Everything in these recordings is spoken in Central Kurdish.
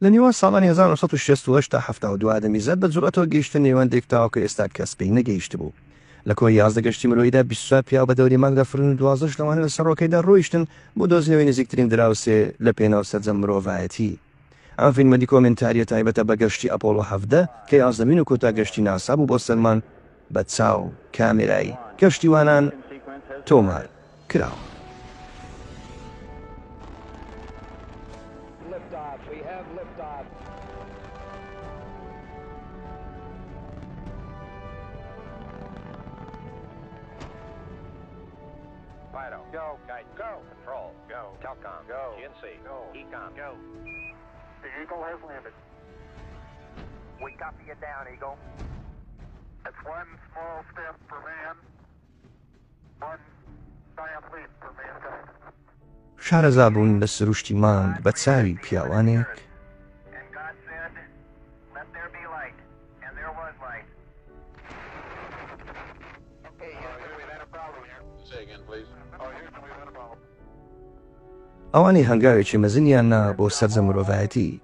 لە نێوان ساڵانی هەزار و نۆ سەد و شەست و هەشت تا حەفتا و دوو ئادەمیزاد بە جورئەتەوە گەیشتە نێواندێک تاوەکو ئێستا کەس پێی نەگەیشتبوو. لە کۆی یازدە گەشتی مرۆییدا بیست و چوار پیاو بە دەوری مانگ دەفڕین و دوازدەش لەوانە لە سەڕۆکەیدا ڕۆیشتن بۆ دۆزینەوەی نزیکترین دراوسێ لە پێناو سەرجەم مرۆڤایەتی. ئەم فیلمە دیکۆمێنتارییە تایبەتە بە گەشتی ئەپۆڵۆ حەڤدە کە یازدەمین و کۆتا گەشتی ناسا بوو بۆ سەر مانگ. بە چاو کامێرای کەشتیوانان تۆمار کراوە. شارەزا بوون لە سروشتی مانگ بە چاوی پیاوانێک، ئەوانەی هەنگاوێکی مەزنیان نا بۆ سەرجەم مرۆڤایەتی،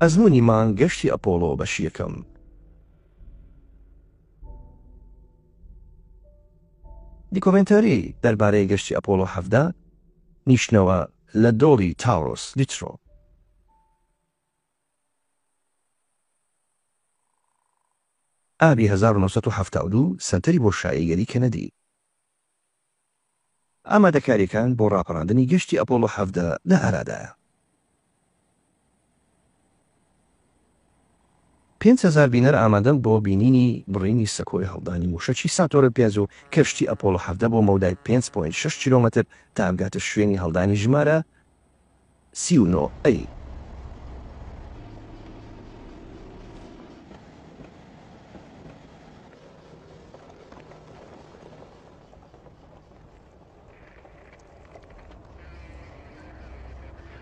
ئەزموونی مانگ گەشتی ئەپۆڵۆ بەشی یەکەم. دیکۆمێنتاری دەربارەی گەشتی ئەپۆڵۆ حەڤدە نیشتنەوە لە دۆڵی تاورۆس لیترۆ. ئابی هەزار و نۆ سەد و حەفتا و دوو سەنتەری بۆشایی گەلی کەنەدی. ئامادەکارییەکان بۆ ڕاپەڕاندنی گەشتی ئەپۆڵۆ حەڤدە لە ئارادایە. پێنج هەزار بینەر ئامادەن بۆ بینینی بڕینی سەکۆی هەڵدانی مووشەکی ساتۆرن پێنج و کەشتی ئەپۆڵۆ حەڤدە بۆ مەودای پێنج پۆینت شەش کیلۆمەتر تا بگاتە شوێنی هەڵدانی ژمارە سی و نۆ ئەی.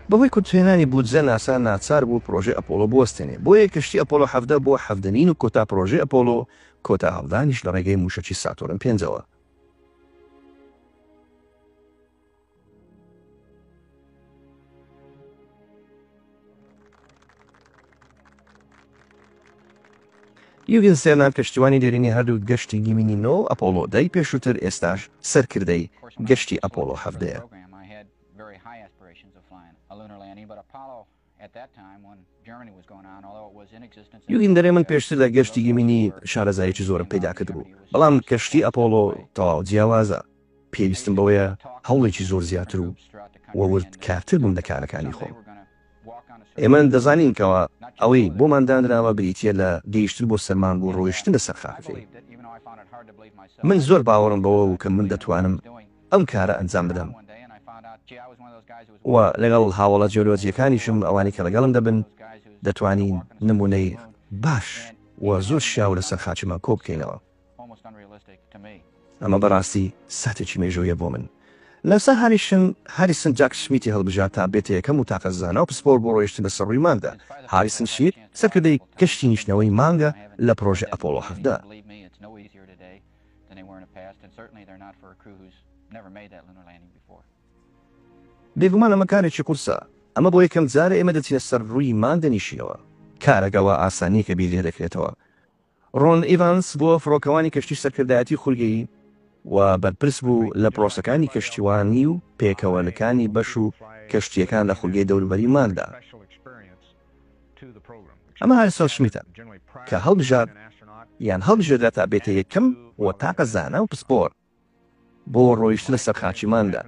بەهۆی کورتهێنانی بودجە ناسا ناچار بوو پڕۆژەی ئەپۆڵۆ بوەستێنێ بۆیە کەشتی ئەپۆڵۆ حەڤدە بۆ حەڤدە مین و کۆتا پڕۆژەی ئەپۆڵۆ کۆتا هەڵدانیش لە ڕێگەی مووشەکی ساتۆرن پێنجەوە. یوگین سێنا کەشتیوانی دێرینی هەردوو گەشتی گیمینی نۆ و ئەپۆڵۆ دەی پێشووتر ئێستاش سەرکردەی گەشتی ئەپۆڵۆ حەڤدەیە. یوئیندەرێ من پێشتر لە گەشتی گیمینی شارەزاییەکی زۆرم پەیدا کردبوو، بەڵام کەشتی ئەپۆڵۆ تەواو جیاوازە، پێویستم بەوەیە هەوڵێکی زۆر زیاتر و و ورد کارتر بم لە کارەکانی خۆم. ئێمە دەزانین کەوا ئەوەی بۆمان دانراوە بریتییە لە گەیشتن بۆ سەر مانگ و ڕۆیشتن لە سەر خاکەکەی. من زۆر باوەڕم بەوە بوو کە من دەتوانم. ئەم کارە ئەنجام بدەم و لەگەڵ هاوەڵە جیۆلۆجییەکانیشم، ئەوانەی کە لەگەڵم دەبن، دەتوانین نموونەی باش و زۆر شیاو لەسەر خاچمان کۆ بکەینەوە. ئەمە بەڕاستی ساتێکی مێژوویە بۆ من. لە سەهاریشم، هاریسن جاک شمیتی هەڵبژارد تا بێتە یەکەم وتاقە زانا و پسپۆڕ بۆ ڕۆیشتن بەسەر ڕووی مانگدا. هاریسن شمیت، سەرکردەی گەشتی نیشتنەوەی مانگە لە پڕۆژە ئەپۆڵۆ حەڤدە. بێگومان ئەمە کارێکی قورسە، ئەمە بۆ یەکەم جارە ئێمە دەچینە سەر رووی مان دەنیشینەوە، کارەکە وا ئاسان نییە کە بیر لێ دەکرێتەوە. رۆن ئیڤانس بووە فڕۆکەوانی کەشتی سەرکردایەتی خولگەیی و بەرپرس بوو لە پرۆسەکانی کەشتیوانی و پێکەوەنکانی بەش و کەشتییەکان لە خولگەی دەوروبەری ماندا. ئەمە ئەرسەڵ شمیتە کە هەڵبژارد یان هەڵبژێردرا تا بێتە یەکەم و تاکە زانا و پسپۆر بۆ ڕۆیشتنە سەر خاکی ماندا.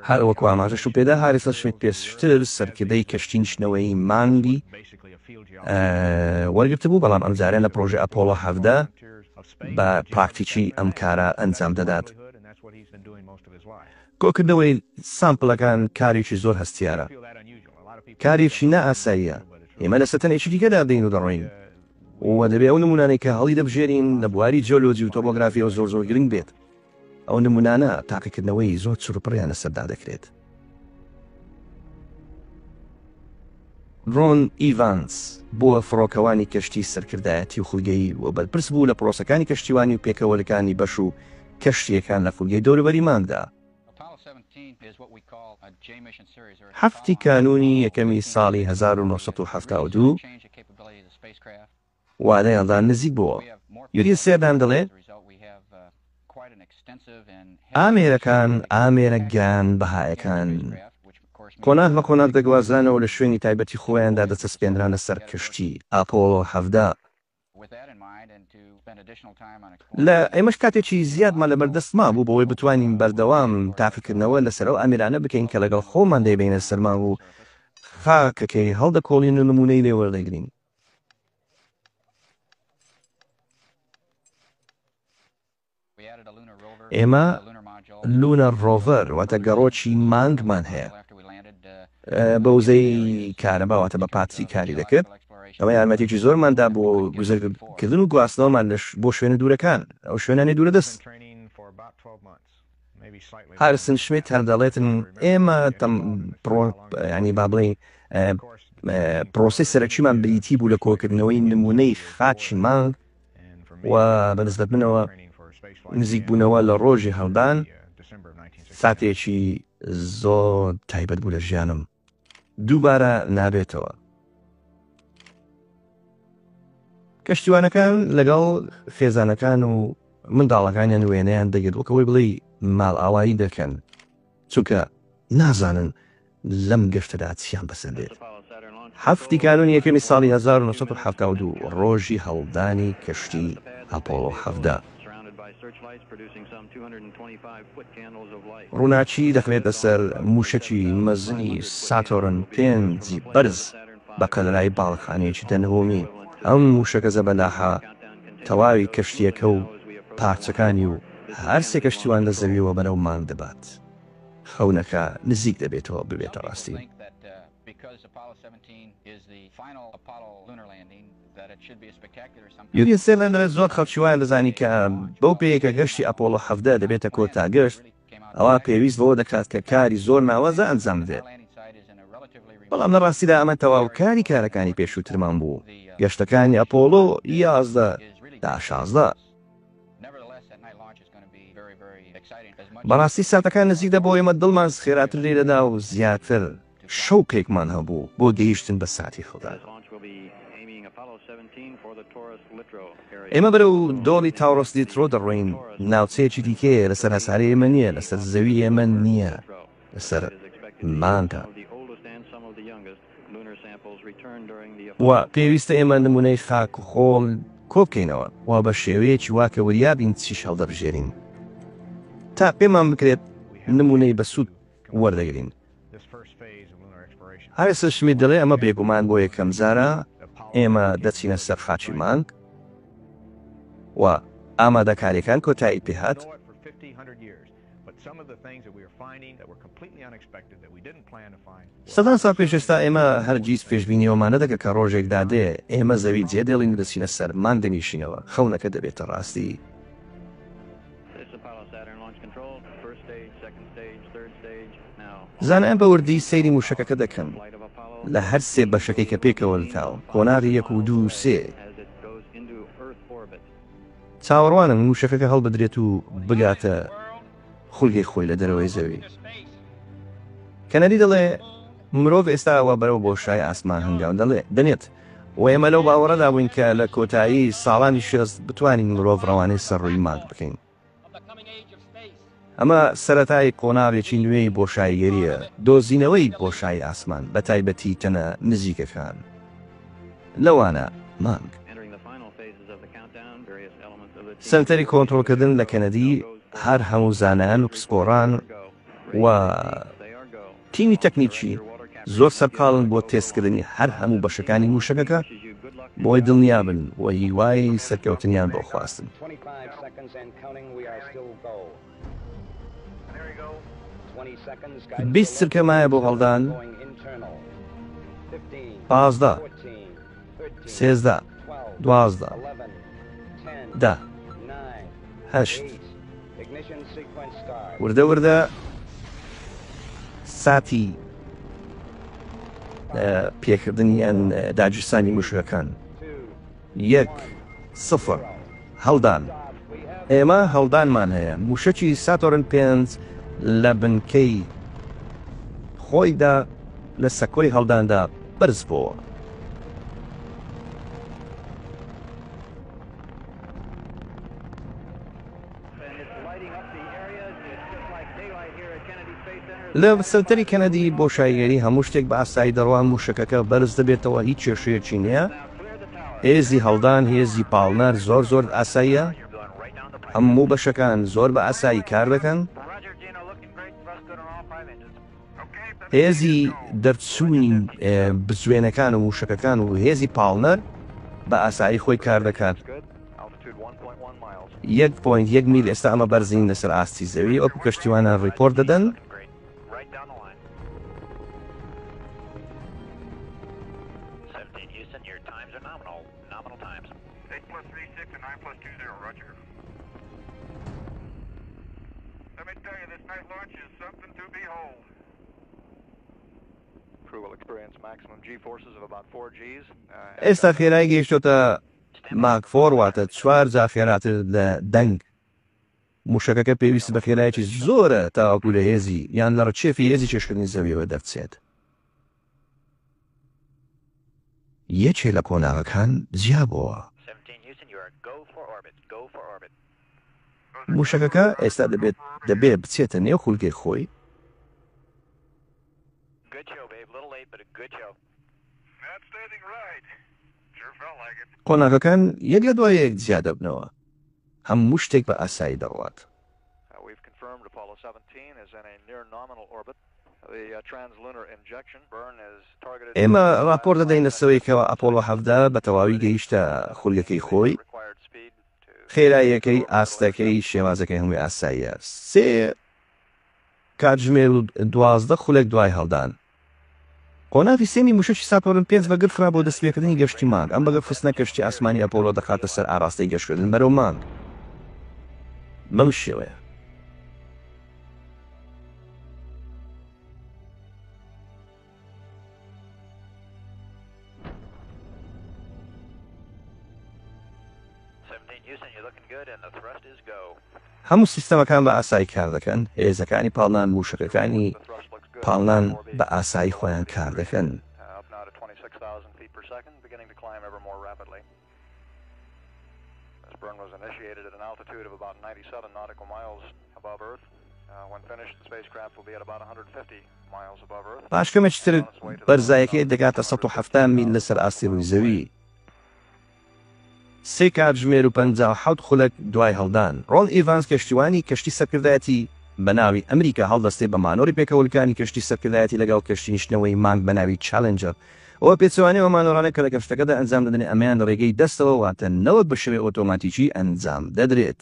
هەر وەکو ئاماژەشم پێدا هاریسەڵ شمیت پێشتر سەرکردەی کەشتی نیشتنەوەی مانگی وەرگرتبوو بەڵام ئەمجارە لە پڕۆژە ئەپۆڵۆ حەڤدە بە پراکتیکی ئەم کارە ئەنجام دەدات. کۆکردنەوەی سامپلەکان کارێکی زۆر هەستیارە، کارێکی نا ئاساییە، ئێمە لە سەتەنێکی دیکەدا دێین و دەڕۆین و دەبێ ئەو نموونانەی کە هەڵیدەبژێرین لە بواری جیۆلۆجی و تۆپۆگرافییەوە زۆر زۆر گرنگ بێت، ئەو نموونانە تاقیکردنەوەی زۆر چڕوپڕیان لەسەردا دەکرێت. رۆن ئیڤانز بووە فڕۆکەوانی کەشتی سەرکردایەتی و خولگەیی و بەرپرس بوو لە پرۆسەکانی کەشتیوانی و پێکەوەلکانی بەش و کەشتییەکان لە خولگەی دەوروبەری مانگدا. حەفتی کانوونی یەکەمی ساڵی هەزار و نۆ سەد و حەفتا و دوو. وانەیاندا نزیک بووە. یوری سێردان دەڵێ، ئامێرەکان، ئامێرە گران بەهایەکان، قۆناغ بە قۆناغ دەگوازرانەوە و لە شوێنی تایبەتی خۆیاندا دەچەسپێنرانە سەر کەشتی ئاپۆڵۆ حەڤدە. لە ئێمەش کاتێکی زیادمان لە بەردەست مابوو بۆوەی بتوانین بەردەوام تاقیکردنەوە لەسەر ئەو ئامێرانە بکەین کە لەگەڵ خۆمان دەیبەینە سەر مانگ و خاکەکەی هەڵدەکۆڵین و نموونەی لێ وەردەگرین. ئێمە لوونەر ڕۆڤەر واتە گەڕۆکی مانگمان هەیە بە وزەی کارەبا واتە بە پاتری کاری دەکرد ئەمە یارمەتێکی زۆرماندا بۆ گوزەرکردن و گواستنەوەمان لەش بۆ شوێنە دوورەکان ئەو شوێنانی دوورە دەست ئارسن شمیت هەر دەڵێتن ئێمە بابڵێین پرۆسەی سەرەکیمان بریتی بوو لە کۆکردنەوەی نمونەی خاچی مانگ و بە نسبەت منەوە نزیک بوونەوە لە ڕۆژی هەڵدان ساتێکی زۆر تایبەت بوو لە ژیانم. دووبارە نابێتەوە. کەشتیوانەکان لەگەڵ خێزانەکان و منداڵەکانیان وێنەیان دەگرت وەکەوەی بڵی ماڵئاوایی دەکەن چونکە نازانن لەم گەشتەدا چیان بەسەر دێت. هەفتی کانونی یەکەمی ساڵی هەزار و نۆ سەد و حەفتا و دوو ڕۆژی هەڵدانی کەشتی ئەپۆڵۆ حەڤدە. ڕووناکی دەخرێتە سەر مووشەکی مەزنی ساتۆرن پێنج بەرز بە قەلەرای باڵەخانەیەکی دەنهۆمی، ئەم مووشەکە زەبەلاحە تەواوی کەشتییەکە و پارچەکانی و هەر سێ کەشتیوان لە زەوییەوە بەرەو مانگ دەبات، خەونەکە نزیک دەبێتەوە ببێتە ڕاستی. یوری سێڤێن دەڵێت زۆر خەڵکی وایان دەزانی کە بەو پێیەی کە گەشتی ئەپۆڵۆ حەڤدە دەبێتە کۆتا گەشت، ئەوا پێویست بەوە دەکات کە کاری زۆر ناوازە ئەنجام بدرێت. بەڵام لە ڕاستیدا ئەمە تەواوکاری کارەکانی پێشووترمان بوو، گەشتەکانی ئەپۆڵۆ یازدە تا شازدە. بەڕاستی ساتەکان نزیک دەبووەوە ئێمە دڵمان خێراتر لێی دەدا و زیاتر. شەوقێکمان هەبوو بۆ گەیشتن بە ساتی هەڵدان. ئێمە بەرەو دۆڵی تاورۆس لیترۆ دەڕۆین، ناوچەیەکی دیکەیە، لەسەر هەسارەی ئێمە نییە، لەسەر زەوی ئێمە نییە، لەسەر مانگە. و پێویستە ئێمە نموونەی خاک و خۆڵ کۆ بکەینەوە و بە شێوەیەکی وا کە وریا بین چیش هەڵدەبژێرین تا پێمان بکرێت نموونەی بەسوود وەردەگرین. ئالیسن شمیت دەڵێ ئەمە بێگومان بۆ یەکەمجارە ئێمە دەچینە سەر خاکی مانگ و ئامادەکارییەکان کۆتایی پێهات. سەدان ساڵ پێش ئێستا ئێمە هەرگیز پێشبینی ئەوەمان نەدەکرد کە ڕۆژێک دادێ ئێمە زەوی جێدێڵین و دەچینە سەر مانگ دەنیشینەوە، خەونەکە دەبێتە ڕاستی. زانایان بە وردی سەیری مووشەکەکە دەکەن لە هەر سێ بەشەکەی کە پێکەوە لکاون، قۆناغی یەک و دوو و سێ. چاوەڕوانن مووشەکەکە هەڵبدرێت و بگاتە خولگەی خۆی لە دەرەوەی زەوی. کەنەدی دەڵێ، مرۆڤ ئێستا وا بەرەو بۆشای ئاسمان هەنگاو دەنێت. و ئێمە لەو باوەڕەدا بووین کە لە کۆتایی ساڵانی شێست بتوانین مرۆڤ ڕەوانەی سەر ڕووی مانگ بکەین. ئەمە سەرەتای قۆناغێکی نوێی بۆشاییگەرییە، دۆزینەوەی بۆشایی ئاسمان، بە تایبەتی تەنە نزیکەکان، لەوانە مانگ. سەنتەری کۆنترۆڵکردن لە کەنەدی، هەر هەموو زانایان و پسپۆڕان و. تیمی تەکنیکی زۆر سەرقاڵن بۆ تێستکردنی هەر هەموو بەشەکانی مووشەکەکە بۆی دڵنیابن و هیوای سەرکەوتنیان بۆ خواستن. سێزدە دوازدە دە هەشت وردە وردە ساتی پێکردنیان داگیرسانی مشکەکان یەک سفر هەڵدان، ئێمە هەڵدانمان هەیە، مووشەکی ساتۆرن پێنج لە بنکەی خۆیدا لە سەکۆی هەڵداندا بەرزبۆوە. لە سەنتەری کەنەدی بۆشاییگەری هەموو شتێک بە ئاسایی دەڕوا، مووشەکەکە بەرز دەبێتەوە، هیچ کێشەیەکی نییە. هێزی هەڵدان هێزی پاڵنەر زۆر زۆر ئاساییە هەموو بەشەکان زۆر بە ئاسایی کار دەکەن هێزی دەرچوونی بزوێنەکان و موشەکەکان و هێزی پاڵنەر بە ئاسایی خۆی کار دەکات یەک پوین یەک میل ئێستا ئەمە بەرزین لەسەر ئاستی زەوی وەکو کەشتیوانە ڕیپۆرت دەدەن ئێستا خێرای گەیشتۆتە ماک فۆر واتە چوار جا خێراتر لە دەنگ. مووشەکەکە پێویست بە خێرایەکی زۆرە تاوەکو لە هێزی یان لە ڕکێفی هێزی کێشکردنی زەوییەوە دەرچێت. یەکێ لە قۆناغەکان جیا بۆوە. مووشەکەکە ئێستا دەبێت دەبێ بچێتە نێو خولگەی خۆی. قۆناغەکان یەک لە دوای یەک جیا دەبنەوە، هەموو شتێک بە ئاسایی دەڕوات. ئێمە ڕاپۆرت دەدەین لە سەوەی کەوا ئەپۆڵۆ حەڤدە بە تەواوی گەیشتە خولگەکەی خۆی، خێراییەکەی، ئاستەکەی، شێوازەکەی هەمووی ئاساییە، سێ کاتژمێر و دوازدە خولەک دوای هەڵدان. قۆناغی سێمی مووشەکی ساتۆرن پێنج بەگر خرا بۆ دەستپێکردنی گەشتی مانگ، ئەم بەگر خستنە کەشتی ئاسمانی ئەپۆڵۆ دەخاتە سەر ئاراستەی گەشتکردن بەرەو مانگ بەم شێوەیە. هەموو سیستەمەکان بە ئاسایی کار دەکەن، هێزەکانی پاڵنان، مووشەکەکانی پاڵنان بە ئاسایی خۆیان کار دەکەن. پاش کەمێکی تر بەرزایەکەی دەگاتە سەد و حەفتا میل لەسەر ئاستی ڕووی زەوی. سێ کاتژمێر و پەنجا و حەوت خولەک دوای هەڵدان، ڕۆن ئیڤانز کەشتیوانی کەشتی سەرکردایەتی بە ناوی ئەمریکا هەڵدەستێ بە مانۆری پێکەوەلکانی کەشتی سەرکردایەتی لەگەڵ کەشتی نشتنەوەی مانگ بە ناوی چالێنجەر و بە پێچەوانەی ئەو مانۆرانە کە لە کەشتەکەدا ئەنجام دەدرێن ئەمەیان لە ڕێگەی دەستەوە واتە نەوەک بە شێوەی ئۆتۆماتیکی ئەنجام دەدرێت.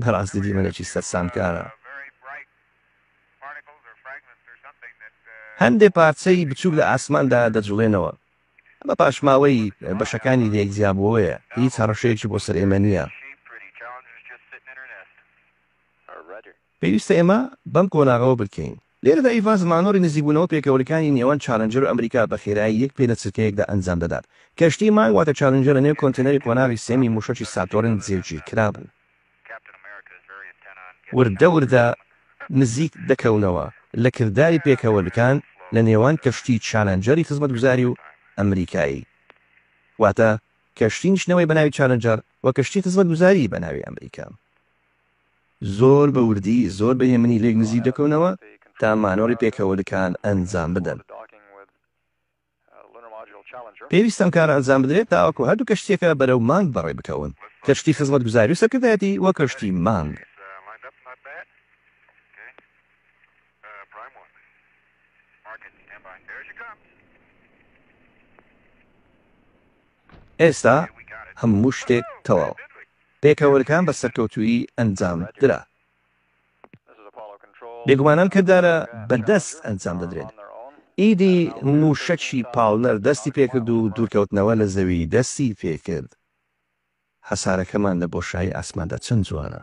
بەڕاستی دیمەنێکی سەرسامکارە. هەندێک پارچەی بچووک لە ئاسماندا دەجوڵێنەوە. ئەمە پاشماوەی بەشەکانی لەیەک جیابووەوەیە. هیچ هەڕەشەیەکی بۆ سەر ئێمە نییە. پێویستە ئێمە بەم قۆناغەوە بگکەین. لێرەدا ئیڤانس مانۆری نزیکبوونەوە پێکەوەلکانی نێوان چالنجەر و ئەمریکا بە خێرایی یەک پێ لە چرکەیەکدا ئەنجام دەدات. کەشتی مانگ واتە چالنجەر لە نێو کۆنتێنەری قۆناغی سێمی مووشەکی ساتۆرن جێگیر کرابوو. وردە وردە نزیک دەکەونەوە لە کرداری پێکەوەلکان لە نێوان کەشتی چالنجەری خزمەتگوزاری و ئەمریکایی واتە کەشتی نیشتنەوەی بە ناوی چالنجەر و کەشتی خزمەتگوزاری بە ناوی ئەمریکا. زۆر بە وردی زۆر بە هێمنی لێک نزیک دەکەونەوە تا مانۆڕی پێکەوەلکان ئەنجام بدەن. پێویستە ئەم کارە ئەنجام بدرێت تاوەکو هەردوو کەشتییەکە بەرەو مانگ بەڕێ بکەون، کەشتی خزمەتگوزاری و سەرکردایەتی و کەشتی مانگ. ئێستا هەموو شتێک تەواوە. پێکەوەرکان بە سەرکەوتوویی ئەنجام درا. بێگومان ئەم کردارە بە دەست ئەنجام دەدرێت. ئیدی مووشەکی پاڵنەر دەستی پێکرد و دوورکەوتنەوە لە زەوی دەستی پێکرد. هەسارەکەمان لە بۆشایی ئاسماندا چەند جوانە.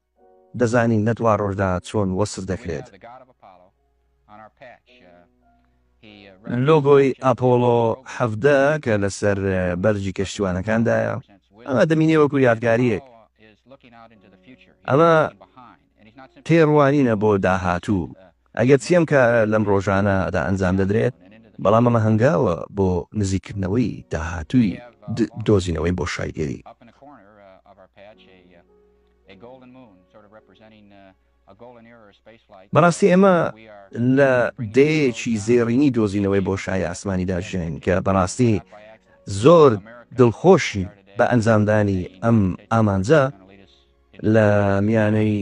دەزانین لە دوا ڕۆژدا چۆن وەسف دەکرێت. لۆگۆی ئەپۆڵۆ حەڤدە کە لەسەر بەرگی کەشتیوانەکاندایە، ئەمە دەمینێ وەکو یادگارییەک. ئەمە تێڕوانینە بۆ داهاتوو، ئەگەرچی ئەم کارە لەم ڕۆژانەدا ئەنجام دەدرێت، بەڵام ئەمە هەنگاوە بۆ نزیککردنەوەی داهاتووی دۆزینەوەی بۆشایگەری. بەڕاستی ئێمە لە دەیەیەکی زێڕینی دۆزینەوەی بۆشای ئاسمانیدا ژیاین کە بەڕاستی زۆر دڵخۆشین بە ئەنجامدانی ئەم ئامانجە لە میانەی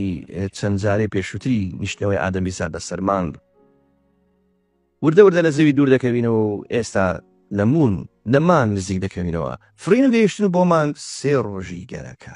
چەند جارەی پێشووتری نیشتنەوەی ئادەمی سەر بەسەر مانگ وردە وردە لە زەوی دوور دەکەوینەوە و ئێستا لە مون لە مانگ نزیک دەکەوینەوە فرین و گەیشتن بۆ مانگ سێ ڕۆژی گەرەکە.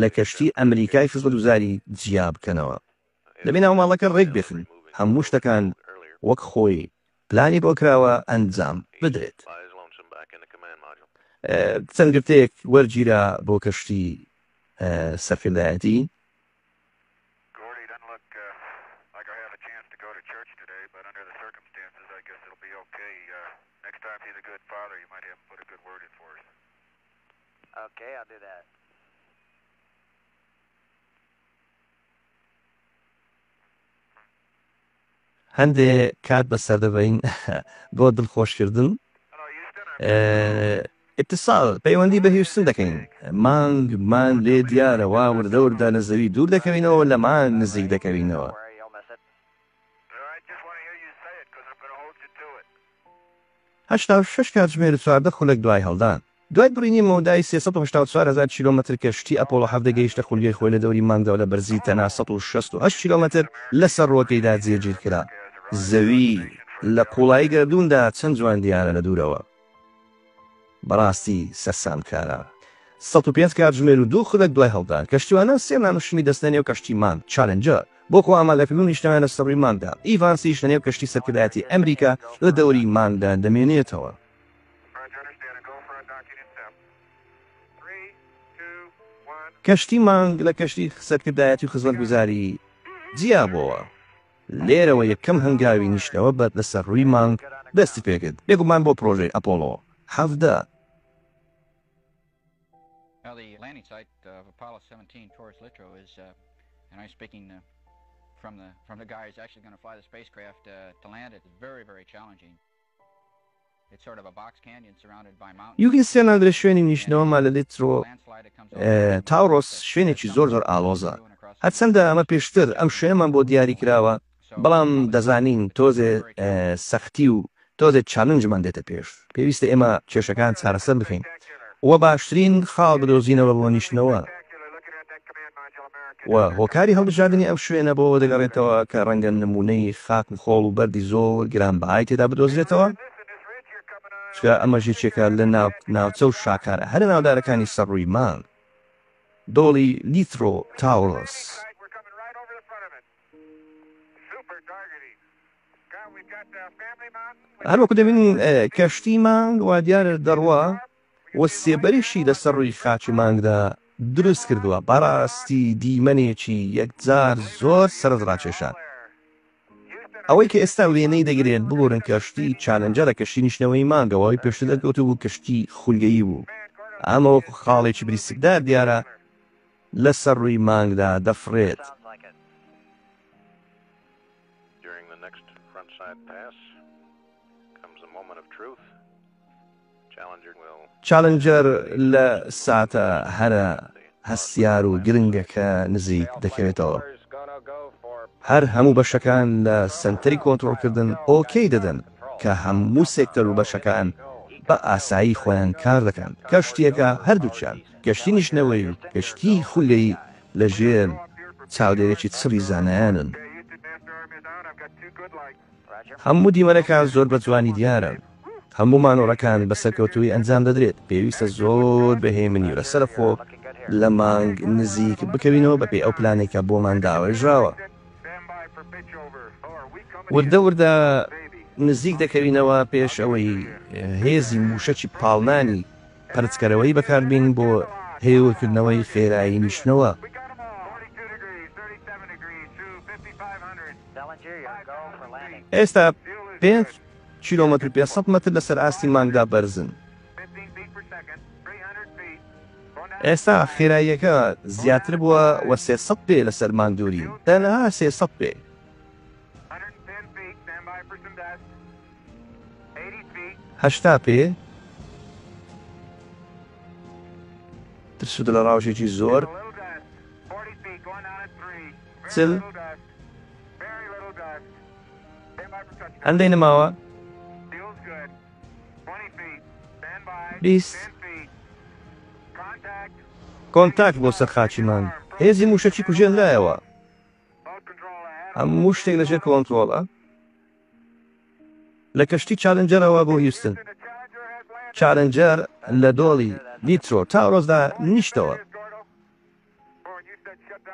لە کەشتی ئەمریکای خزمەتگوزاری جیا بکەنەوە دەبێ ناوماڵەکە ڕێک بێخن هەموو شتەکان وەک خۆی پلانی بۆ کراوە ئەنجام بدرێت چەند گرتەیەک وەرگیرا بۆ کەشتی سەرکردایەتی. هەندێ کات بەسەردەبەین بۆ دڵخۆشکردن ئیتصال پەیوەندی بە هیوستن دەکەین مانگمان لێ دیارە وا وردە وردە لە زەوی دوور دەکەوینەوە لە مانگ نزیک دەکەوینەوە. هەشتا و شەش کاتژمێر و چواردە خولەک دوای هەڵدان، دوای بڕینی مەودای سێ سەد و هەشتا و چوار هەزار کیلۆمەتر کەشتی ئەپۆڵۆ حەڤدە گەیشتە خولیای خۆی لە دەوری مانگەوە لە بەرزی تەنها سەد و شەست و هەشت کیلۆمەتر لەسەر ڕووەکەیدا جێگیرکرا. زەوی لە قوڵایی گەردووندا چەند جوان دیارە لە دوورەوە. بەڕاستی سەرسامکارە. سەد و پێنج کاتژمێر و دوو خولەک دوای هەڵدان، کەشتیوانان سێ مانگ شمی دەستنە نێو کەشتی مانگ چالنجەر بۆ خۆ ئامادەکردن و نیشتەنە لەسەر ڕووی مانگدا. ئیڤانسیش لە نێو کەشتی سەرکردایەتی ئەمریکا لە دەوری مانگدا دەمێنێتەوە. کەشتی مانگ لە کەشتی سەرکردایەتی و خزمەتگوزاری جیابۆوە. لێرەوە یەکەم هەنگاوی نیشتنەوە بەر لەسەر ڕووی مانگ دەستی پێکرد، بێگومان بۆ پرۆژەی ئەپۆڵۆ حەڤدە. یوکی سێنادرە شوێنی نیشتنەوە مالەلیترۆ تاورۆس شوێنێکی زۆر زۆر ئاڵۆزە هەرچەندە ئەمە پێشتر ئەم شوێنەمان بۆ دیاری کراوە بەڵام دەزانین تۆزێ سەختی و تۆزێ چالنجمان دێتە پێش پێویستە ئێمە کێشەکان چارەسەر بکەین و باشترین خاڵ بدۆزینەوە بۆ نیشتنەوە. و هۆکاری هەڵبژاردنی ئەم شوێنە بۆ ئەوە دەگەڕێتەوە کە ڕەنگە نموونەی خاک و خۆڵ و بەردی زۆر گرانبەهای تێدا بدۆزرێتەوە، چونکە ئەمەش یەکێکە لە ناوچە و شاکارە هەرە ناودارەکانی سەر ڕووی مانگ، دۆڵی لیترۆ تاورۆس. هەروەکو دەبینین کەشتی مانگ وادیارە دەڕوا. و سێبەریشی لەسەر ڕووی خاکی مانگدا دروست کردووە، بەڕاستی دیمەنێکی یەکجار زۆر سەرنج ڕاکێشە. ئەوەی کە ئێستا وێنەی دەگرێت، ببورن کەشتی چالێنجەرە کەشتی نیشتنەوەی مانگە و ئەوەی پێشتر دەرکەوتبوو کەشتی خولگەیی بوو، ئەمە وەکو خاڵێکی بریسکدار دیارە لەسەر ڕووی مانگدا دەفڕێت. چالنجەر لە ساتە هەرە هەستیار و گرنگەکە نزیک دەکەوێتەوە. هەر هەموو بەشەکان لە سەنتەری کۆنترۆڵکردن ئۆکەی دەدەن کە هەموو سێکتەر و بەشەکان بە ئاسایی خۆیان کار دەکەن. کەشتییەکە هەردووکیان، کەشتی نیشتنەوەیی و کەشتیی خولگەیی، لەژێر چاودێرێکی چڕی زانایانن. هەموو دیمەنەکان زۆر بە جوانی دیارن، هەموو مانۆڕەکان بە سەرکەوتوویی ئەنجام دەدرێت، پێویستە زۆر بە هێمنی و لەسەرەخۆ لە مانگ نزیک بکەوینەوە بەپێی ئەو پلانەی کە بۆمان داڕێژراوە وردە وردە نزیک دەکەوینەوە پێش ئەوەی هێزی مووشەکی پاڵنانی پەرچکەرەوەی بەکاربین بۆ هێورکردنەوەی خێرایی نیشتنەوە. ئێستا پێنج کیلۆمەتر و پێنج سەد مەتر لەسەر ئاستی مانگدا بەرزن. ئێستا خێراییەکە زیاتر بووە و سێ سەد پێ لەسەر مانگ دوورین، تەنها سێ سەد پێ. هەشتا پێ ترسودە لە ڕاوژێکی زۆر. چل هەندەی نماوە بیست کۆنتاک بۆ سەر خاچی مانگ هێزی موشەکی کوژێن لایەوە هەموو شتێک لەژێر کۆنترۆڵە لە کەشتی چالنجەرەوە بۆ هیوستن چالنجەر لە دۆڵی دیترۆ تا ڕۆزدا نیشتەوە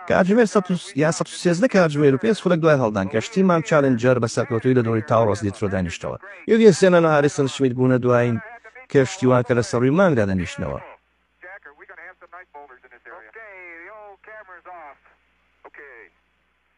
کاتژمێر سەد و یا سەد و سێزدە کاتژمێر و پێنج خولەک دوای هەڵدان، کەشتیی مام چالنجەر بە سەرکەوتوویی لە دۆڵی تاوڕەس لیترۆ دانیشتەوە. یوریە سێنان و هاریسن شمیت بوونە دوایین کەشتیوان کە لەسەر رووی مانگدا دەنیشنەوە.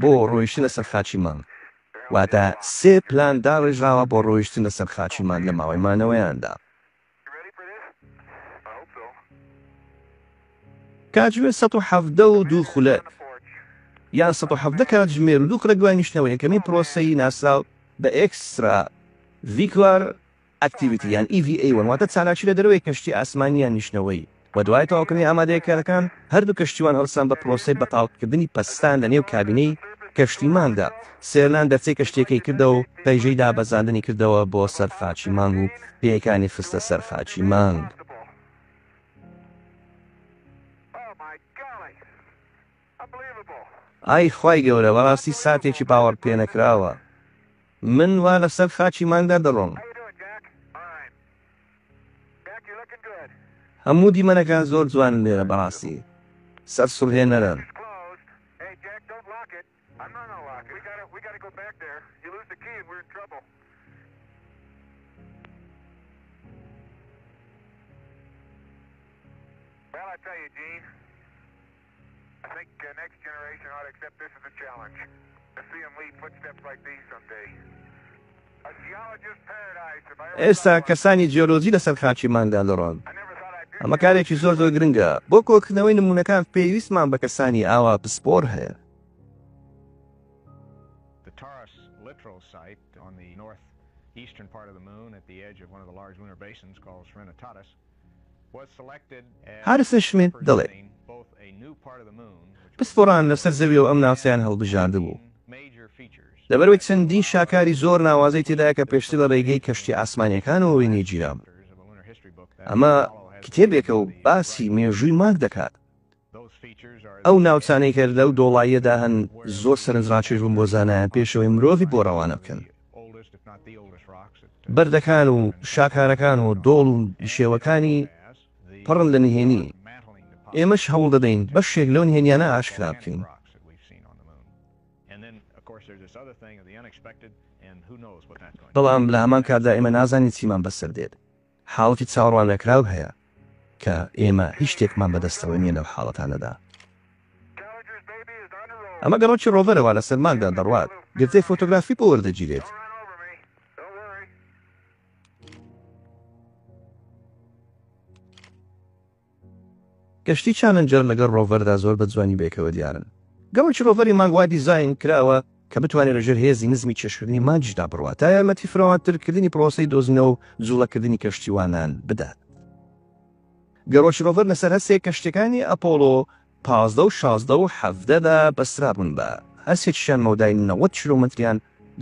بۆ ڕۆیشتنە سەر خاچی مانگ، واتە سێ پلان داڕێژراوە بۆ ڕۆیشتنە سەر خاچی مانگ لە ماوەی مانەوەیاندا. کاتژمێر سەد و حەڤدە و دوو خولەک، یان سەد و حەڤدە کاتژمێر و دوو خولەک دوای نیشتنەوە یەکەمین پرۆسەی ناسراو بە ئێکسترا ڤیکوار Activity یان EVA وەن واتە چالاکی لە دەرەوەی کەشتی ئاسمانی یان نیشتنەوەیی و دوای تەواوکردنی ئامادەییکارەکان هەردوو کەشتیوان هەڵسان بە پرۆسەی بەتاڵکردنی پەستان لە نێو کابینەی کەشتی مانگدا سێرلان دەرچەی کەشتیەکەی کردەوە و پەیژەی دابەزاندنی کردەوە بۆ سەر خاچی مانگ و پێیەکانی خستە سەر خاچی مانگ. ئای خوای گەورە بەڕاستی ساتێکی باوەڕ پێنەکراوە من وا لەسەر خاکی مانگدا دەڕۆم هەموو دیمەنەکان زۆر جوانن لێرە بەڕاستی سەرسوڕهێنەرن. ئێستا کەسانی جیۆلۆجی لەسەر خاکی مانگدا دەڕۆن، ئەمە کارێکی زۆر زۆر گرنگە. بۆ کۆکردنەوەی نموونەکان پێویستمان بە کەسانی ئاوا پسپۆڕ هەیە. هارسن شمیت دەڵێت، پسپۆڕان لەسەر زەویەوە ئەم ناوچەیان هەڵبژاردبوو، لەبەرئەوەی چەندین شاکاری زۆر ناوازەی تێدایە کە پێشتر لە ڕێگەی کەشتییە ئاسمانییەکانەوە وێنەی گیرابوو. ئەمە کتێبێکە و باسی مێژووی مانگ دەکات. ئەو ناوچانەی کە لەو دۆڵاییەدا هەن زۆر سەرنجڕاکێش بوون بۆ زانایان پێشەوەی مرۆڤی بۆ ڕەوانە بکەن. بەردەکان و شاکارەکان و دۆڵ و نشێوەکانی پڕن لە نهێنی، ئێمەش هەوڵ دەدەین بەشێک لەو نهێنییانە ئاشکرا بکەین. بەڵام لە هەمان کاتدا ئێمە نازانین چیمان بەسەر دێت. حاڵەتی چاوەڕواننەکراو هەیە کە ئێمە هیچ شتێکمان بەدەستەوە نییە لەو حاڵەتانەدا. ئەمە گەڕۆکی ڕۆڤەرە وا لەسەر مانگدا دەڕوات، گرتەی فۆتۆگرافی بۆ وەردەگیرێت. گەشتی چالنجەر لەگەڵ ڕۆڤەردا زۆر بە جوانی بەیەکەوە دیارن. گەڕەکی ڕۆڤەری مانگ وا دیزاین کراوە کە بتوانێت لەژێر هێزی نزمی کێشکردنی مانگیشدا بڕوات تا یارمەتی فراوانترکردنی پڕۆسەی دۆزینەوە و جووڵەکردنی کەشتیوانان بدات. گەڕۆکی ڕۆڤەر لەسەر هەسێ کەشتیەکانی ئەپۆڵۆ پازدە و شازدە و حەڤدەدا بەسترابوون بە هەسێکیشیان مەودای نەوەد کیلۆمەتریان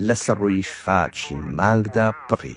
لەسەر ڕووی خاکی مانگدا بڕی.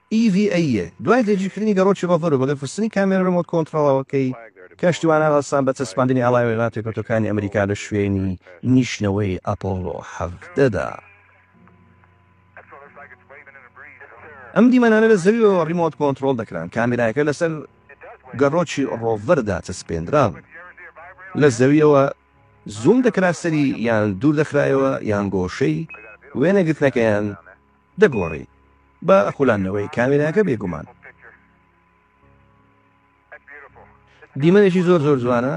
EVA، یە، دوای جێگیرکردنی گەڕۆکی ڕۆڤەر و بەگەر خستنی کامێرە ڕیمۆت کۆنتڕۆڵەوە کەی کەشتیوانان هەستان بە چەسپاندنی ئاڵای وێنا پێکوتەکانی ئەمریکا لە شوێنی نیشتنەوەی ئەپۆڵۆ حەڤدە دا. ئەم دیمەنانە لە زەویەوە ڕیمۆت کۆنتڕۆڵ دەکران، کامێرایەکە لەسەر گەڕۆکی ڕۆڤەر داچەسپێندرابوو، لە زەویەوە زووم دەکرا سەری یان دوور دەخرایەوە یان گۆشەی وێنەگرتنەکەیان، دەگۆڕی بە خولانەوەی کامێراکە بێگومان. دیمەنێکی زۆر زۆر جوانە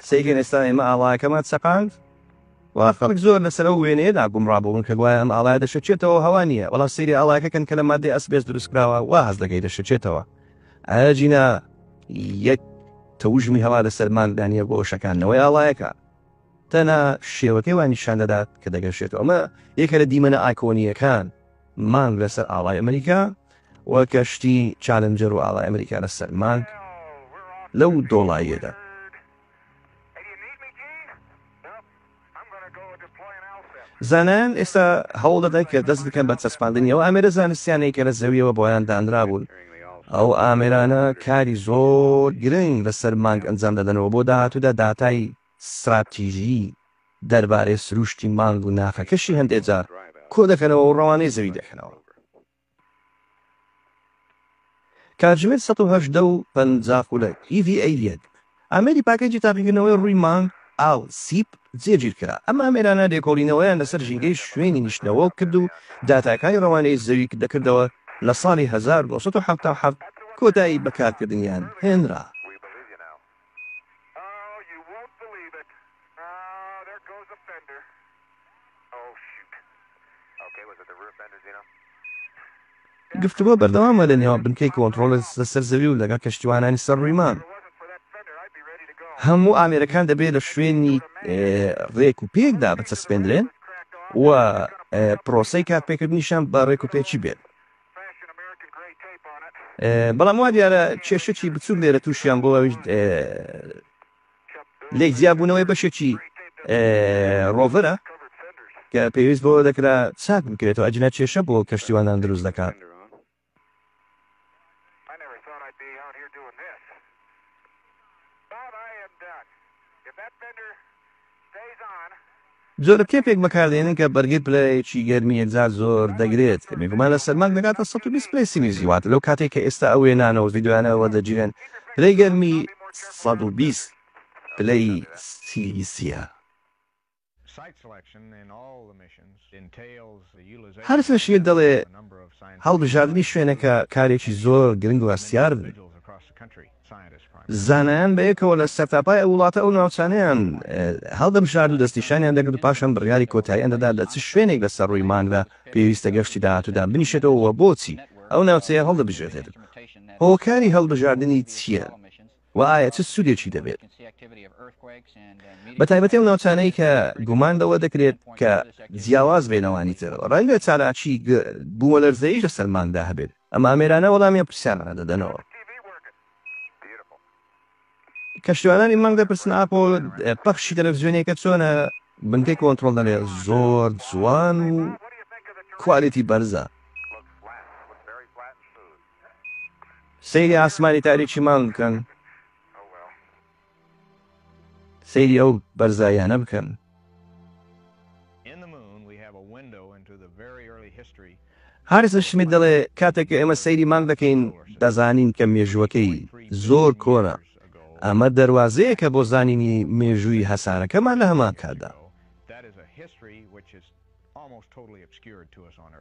سەیرکەن ئێستا ئێمە ئاڵایەکەمان چەقاند و خەڵک زۆر لەسەر ئەو وێنەیەدا گومڕابوون کە گوایە ئەم ئاڵایە دەشەچێتەوە هەوا نییە بەڵام سەیری ئاڵایەکە کەن کە لە مادەی ئەسبێست دروستکراوە وا هەست دەکەی دەشەچێتەوە ئایا جینا یەک تەوژمی هەوا لەسەر مانگدانە بۆ شەکانەوەی ئاڵایەکە تەنها شێوەکەی وا نیشان دەدات کە دەگەشێتەوە. ئەمە یەکە لە دیمەنە ئایکۆنییەکان، مانگ لەسەر ئاڵای ئەمریکا و کەشتی چالنجەر و ئاڵای ئەمریکا لەسەر مانگ لەو دۆڵاییەدا. زانایان ئێستا هەوڵ دەدەن کە دەست بکەن بە چەسپاندنی ئەو ئامێرە زانستییانەی کە لە زەوییەوە بۆیان دانرابوون. ئەو ئامێرانە کاری زۆر گرنگ لەسەر مانگ ئەنجام دەدەن و بۆ داهاتوودا داتای ستراتیژی دەربارەی سرووشتی مانگ و ناخەکەشی هەندێ جار کۆ دەکەنەوە و ڕەوانەی زەوی دەکەنەوە. کاتژمێر سەد و هەژدە و پەنجا خولەک، EVA یەک، ئامێری پاکێجی تاقیکردنەوەی ڕووی مانگ، ئاو، سیپ، جێگیر کرا. ئەم ئامێرانە لێکۆڵینەوەیان لەسەر ژینگەی شوێنی نیشتنەوە کرد و داتاکانی ڕەوانەی زەوی دەکردەوە لە ساڵی هەزار و نۆ سەد و حەفتا و حەفت کۆتایی بە کارکردنیان هێنرا. گفتوگۆ بەردەوامە لە نێوان بنکەی کۆنتڕۆڵ لەسەر زەوی و لەگەڵ کەشتیوانانی سەر ڕووی مانگ. هەموو ئامێرەکان دەبێت لە شوێنی ڕێک و پێکدا بچەسپێندرێن و پرۆسەی کارپێکردنیشیان بە ڕێکوپێکی بێت. بەڵام وا دیارە کێشەکی بچووک لێرە تووشیان بۆ ئەویش لێک جیابوونەوەی بەشێکی ڕۆڤەرە کە پێویست بۆ دەکرا چاک بکرێتەوە ئەجنا کێشە بۆ کەشتیوانان دروست دەکات جۆرە تێپێک بەکاردێنن کە بەرگەی پلەیەکی گەرمی یەکجار زۆر دەگرێت کە میکرومان لە سەرماک دەگاتە سەد و بیست پلەی سیلیزی واتە لەو کاتەی کە ئێستا ئەو وێنانە و ڤیدیۆیانە وەردەگیرێن پلەی گەرمی سەد و بیست پلەی سیلیزییە. هەر فشیت دەڵێت هەڵبژاردنی شوێنەکە کارێکی زۆر گرنگ و هەستیار بوو. زانایان بەیەکەوە لە سەرتاپای ئەو وڵاتە ئەو ناوچانەیان هەڵدەبژارد و دەستنیشانیان دەکرد و پاشان بڕیاری کۆتاییان دەدا لە چ شوێنێک لەسەر ڕووی مانگدا پێویستە گەشتی داهاتوودا بنیشێتەوە و بۆچی ئەو ناوچەیە هەڵدەبژێردرێت و هۆکاری هەڵبژاردنی چییە و ئایا چ سوودێکی دەبێت بەتایبەتی ئەو ناوچانەی کە گومان لەوە دەکرێت کە جیاواز بێ لەوانی تر ڕەنگە چالاکی بوومەلەرزەیش لەسەر مانگدا هەبێت ئەم ئامێرانە وەڵامی ئەم پرسیارانە دەدەنەوە. کەشتیوانانی مانگ دەپرسن ئاپۆ پەخشی تەلەفزیۆنیەکە چۆنە؟ بنکەی کۆنترۆڵ دەڵێ زۆر جوان و کوالێتی بەرزە. سەیری ئاسمانی تاریکی مانگ بکەن. سەیری ئەو بەرزاییانە بکەن. هاریسن شمیت دەڵێ، کاتێک کە ئێمە سەیری مانگ دەکەین، دەزانین کە مێژووەکەی زۆر کۆنە. ئەمە دەروازەیەکە بۆ زانینی مێژووی هەسارەکەمان لە هەمان کاتدا.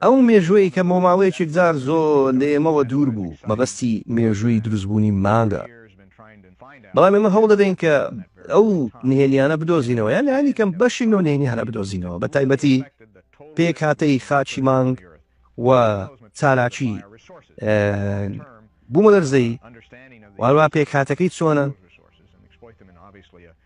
ئەو مێژووەی کە بۆ ماوەیەکی جار زۆر لە ئێمەوە دوور بوو، مەبەستی مێژووی دروستبوونی مانگە. بەڵام ئێمە هەوڵ دەدەین کە ئەو نهێنییانە بدۆزینەوە، یان لانی کەم بەشێک لەو نهێنییانە بدۆزینەوە، بە تایبەتی پێکهاتەی خاکی مانگ و چالاکی بوومەلەرزەیی و هەروەها پێکهاتەکەی چۆنە.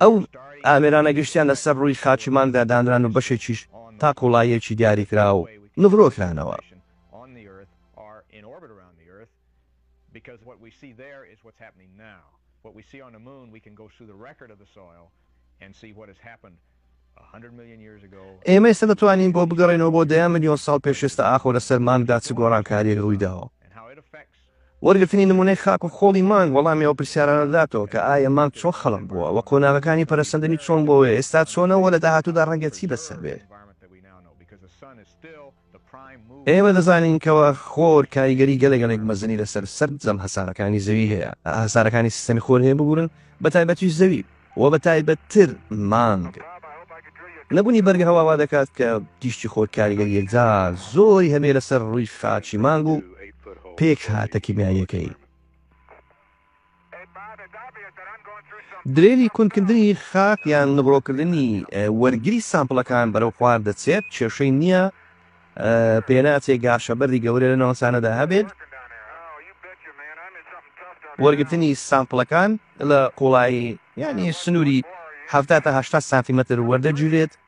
ئەو ئامێرانە گشتیان لەسەر ڕووی خاکی مانگدا دانران و بەشێکیش تا قووڵاییەکی دیاریکراو نغرۆ کرانەوە. ئێمە ئێستا دەتوانین بۆ بگەڕێینەوە بۆ دەیان ملیۆن ساڵ پێش ئێستا ئاخۆ لەسەر مانگدا چ گۆڕانکاریەک ڕوویداوە؟ وەرگرتنی نمونەی خاک و خۆڵی مانگ وەڵامی ئەو پرسیارانە دەداتەوە کە ئایە مانگ چۆن خەڵق بووە وە قۆناغەکانی پەرەسەندنی چۆن بووە وە ئێستا چۆنە وە لە داهاتوودا ڕەنگە چی بەسەر بێت؟ ئێمە دەزانین کەوا خۆر کاریگەری گەلە گەلێک مەزنی لەسەر سەرجەم هەسارەکانی زەوی هەیە، هەسارەکانی سیستەمی خۆر هەیە ببورن بە تایبەتیش زەوی و بە تایبەت تر مانگ. نەبونی بەرگە هەوا وا دەکات کە تیشکی خۆر کاریگەری یەکجار زۆری هەبێ لەسەر ڕوی خاکی مانگ و پێکهاتە کیمیاییەکەی. درێژی کونکردنی خاک یان نغرۆکردنی وەرگری سامپڵەکان بەرەو خوار دەچێت کێشەی نییە پێناچێ گاشەبەردی گەورە لە ناوچانەدا هەبێت وەرگرتنی سامپڵەکان لە قوڵایی یانی سنووری حەفتا تا هەشتا سانتیمەتر وەردەگیرێت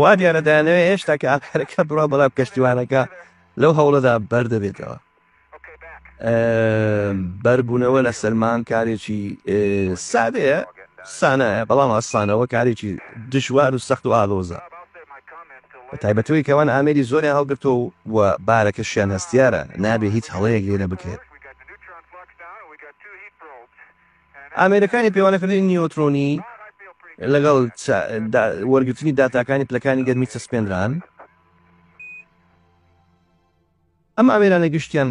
وا دیارە دەیانەوێت هێشتا کە ئاخرەکە بڕا بەڵام کەشتیوانەکە لەو هەوڵەدا بەر دەبێتەوە بەربوونەوە لە سلمان کارێکی سادەیە سانایە بەڵام ئاسانەوە کارێکی دژوار و سەخت و ئالۆزە تایبەتەوەی کەوان ئامێری زۆریان هەڵگرتۆ و بارەکەشیان هەستیارە نابێ هیچ هەڵەیەک لێرە بکرێت ئامێرەکانی پێوانەکردنی نیۆترۆنی لەگەڵ وەرگرتنی داتاکانی پلەکانی گەرمی چەسپێنران. ئەم ئامێرانە گشتیان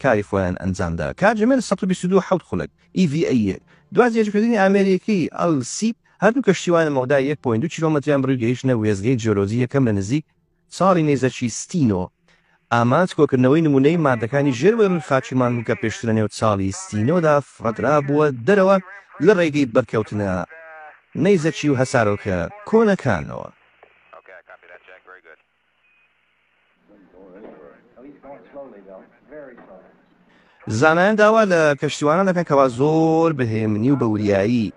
کاری خۆیان ئەنجامدا. کاتژمێر سەد و بیست و دوو حەوت خولەک، EVA، یەک. دوا جێژکردنی ئامێرێکەی ئەل سیپ، هەردوو کەشتیوانە مەودای یەک پۆینت دوو کیلۆمەتریان بڕی و گەیشتنە وێستگەی جیۆلۆجی یەکەم لە نزیک چاڵی نەیزەکی ستینۆ، ئامانج کۆکردنەوەی نموونەی ماددەکانی ژێرەوەی ڕووی خاکی مانگ بوو کە پێشتر لەنێو چاڵی ستینۆدا فڕێدرابووە دەرەوە لە ڕێگەی بەرکەوتنە نەیزەکی و هەسارۆکە کۆنەکانەوە. زانایان داوا لە کەشتیوانان دەکەن کەوا زۆر بەهێمنی و بە وریایی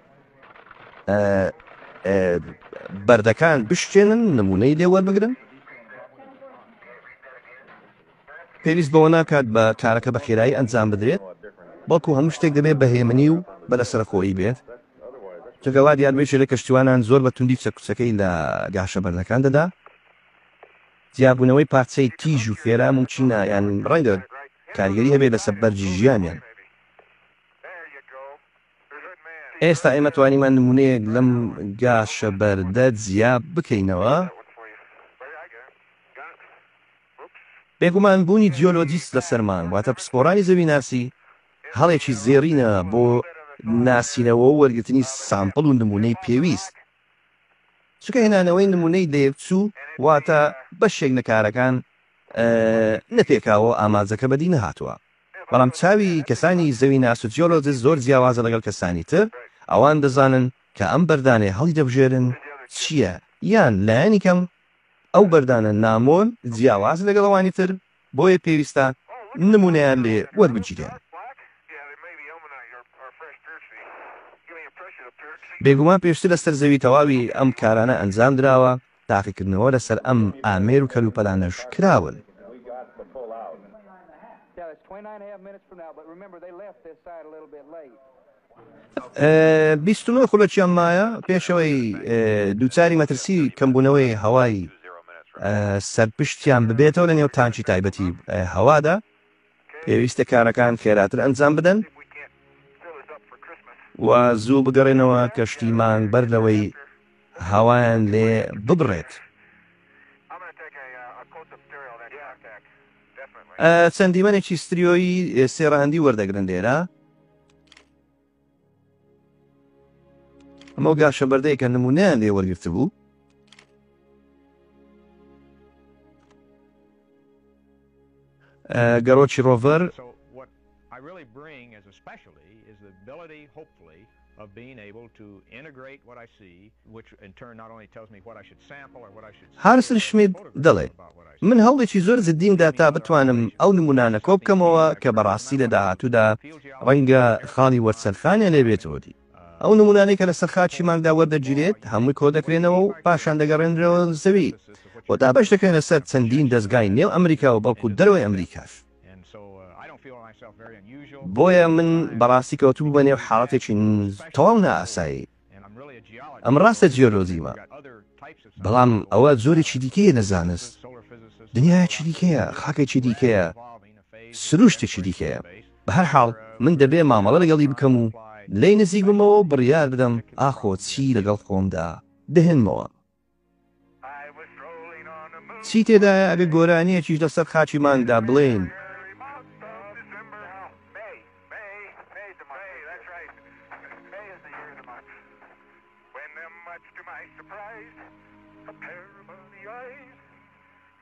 بەردەکان بشتێنن نمونەی لێ وەربگرن پێویست بەوە ناکات بە کارەکە بە خێرایی ئەنجام بدرێت بەڵکو هەموو شتێک دەبێت بەهێمنی و بە لە سەرخۆی بێت چگەوا دیار بێت لە کەشتوانان زۆر بە توندی چەکچەکەی لە گاشە بەردەکان دەدا جیابوونەوەی پارچەی تیژ و خێرا مومکینە یان ڕەنگە کاریگەری هەبێت لەسەر بەرگی ژیانیان. ئێستا ئێمە توانیمان نموونەیەک لەم گاشە بەردە جیا بکەینەوە. بێگومان بوونی جیۆلۆجیست لەسەر مانگ واتە پسپۆڕانی زەویناسی هەڵێکی زێڕینە بۆ ناسینەوە و وەرگرتنی سامپڵ و نموونەی پێویست. چونکە هێنانەوەی نموونەی لەیەکچوو واتە بەشێک لە کارەکان نە پێکاوە و ئامانجەکە بەدی نەهاتووە. بەڵام چاوی کەسانی زەویناس و جیۆلۆجست زۆر جیاوازە لەگەڵ کەسانی تر، ئەوان دەزانن کە ئەم بەردانەی هەڵیدەبژێرن چییە، یان لایەنی کەم ئەو بەردانە نامۆن جیاواز لەگەڵ ئەوانی تر، بۆیە پێویستە نموونەیان لێ وەربگیرێن. بێگومان پێشتر لەسەر زەوی تەواوی ئەم کارانە ئەنجام دراوە، تاقیکردنەوە لەسەر ئەم ئامێر و کەلوپەلانەش کراون. بیست و نۆ خولەکیان مایە پێشەوەی دووچاری مەترسی کەمبوونەوەی هەوای سەرپشتیان ببێتەوە لە نێو تانکی تایبەتی هەوادا پێویستە کارەکان خێراتر ئەنجام بدەن و زوو بگەڕێنەوە کەشتی مانگ بەر لەوەی هەوایان لێ ببڕێت. چەند دیمەنێکی ستریۆیی سێڕاندی وەردەگرن لێرە. ئەمە ئەو گاشە بەردەیە کە نموونەیان لێ وەرگرتبوو گەڕۆکی ڕۆڤەر هارسل شمید دەڵێت، من هەوڵێکی زۆر جددیم دا تا بتوانم ئەو نموونانە کۆ بکەمەوە کە بەڕاستی لە داهاتوودا ڕەنگە خاڵی وەرچەرخانیان لێ بێتەوە دی. ئەو نموونانەی کە لەسەر خاکی مانگدا وەردەگیرێت هەمووی کۆ دەکرێنەوە و پاشان دەگەڕێنرێنەوە زەوی و دابەش دەکرێنە سەر چەندین دەزگای نێو ئەمریکا و بەڵکوو دەرەوەی ئەمریکاش. بۆیە من بەڕاستی کەوتبوومە نێو حاڵەتێکی تەواو نائاسایی. ئەمە ڕاستە جیۆلۆجیمە، بەڵام ئەوە جۆرێکی دیکەیە لە زانست، دنیایەکی دیکەیە، خاکێکی دیکەیە، سرووشتێکی دیکەیە. بە هەر حاڵ من دەبێ مامەڵە لەگەڵی بکەم و لێی نزیک بمەوە و بڕیار بدەم ئاخۆ چی لەگەڵ خۆمدا دەهێنمەوە. چی تێدایە ئەگەر گۆرانیەکیش لەسەر خاکی مانگدا بڵێین.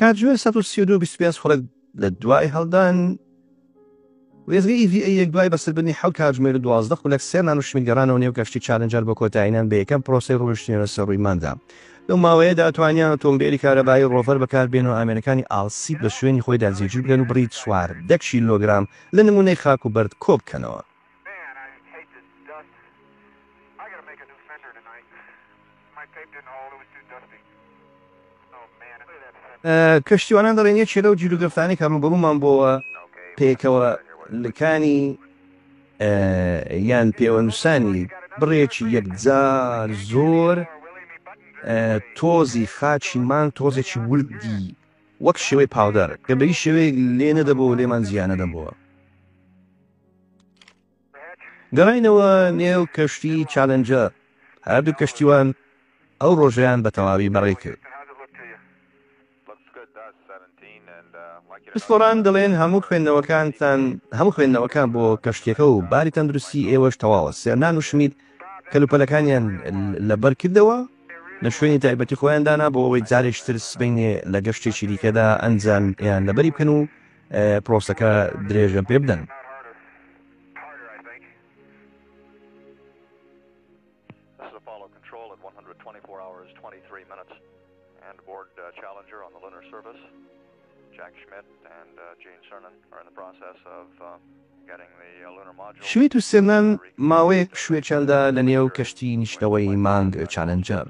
کاتژمێر سەد و سی و دوو و بیست و پێنج خولەک لە دوای هەڵدان، وێستگەی ئیڤی ئەی یەک دوای بەسەربردنی حەوت کاتژمێر و دوازدە خولەک سێ مان و شمیت گەڕانەوە نێو کەشتی چالنجەر بۆ کۆتاییهێنان بە یەکەم پرۆسەی ڕۆیشتنیانە سەر ڕووی مانگدا. لەو ماوەیەدا توانیان ئۆتۆمبێلی کارەبایی ڕۆڤەر بەکاربێنن و ئامێرەکانی ئاڵسیت بە شوێنی خۆیدا جێگیر بکەن و بڕی چواردە کیلۆگرام لە نموونەی خاک و بەرد کۆبکەنەوە. کەشتیوانان دەڵێن یەکێ لەو گیروگرفتانەی کە ڕووبەڕوومان بۆوە پێکەوە لکانی یان پێوەنووسانی بڕێکی یەکجار زۆر تۆزی خاچی مان تۆزێکی وردی وەک شێوەی پاودەر کە بە هیچ شێوەیەک لێ نەدەبۆوە لێمان جیا نەدەبۆوە. گەڕاینەوە نێو کەشتی چالنجەر، هەردوو کەشتیوان ئەو ڕۆژەیان بە تەواوی بەڕێ کرد. پسپۆڕان دەڵێن هەموو خوێندنەوەکانتان هەموو خوێندنەوەکان بۆ کەشتیەکە و باری تەندروستی ئێوەش تەواوە، سێرنان و شمیت کەلوپەلەکانیان لەبەر کردەوە لە شوێنی تایبەتی خۆیان دانا بۆ ئەوەی جارێکش تر سبەینێ لە گەشتێکی دیکەدا ئەنجامیان لەبەری بکەن و پرۆسەکە درێژە پێ بدەن. شویت و سێرنان ماوەیەک شوێکیان دا لە نێو کەشتی نیشتەوەی مانگ چالنجەر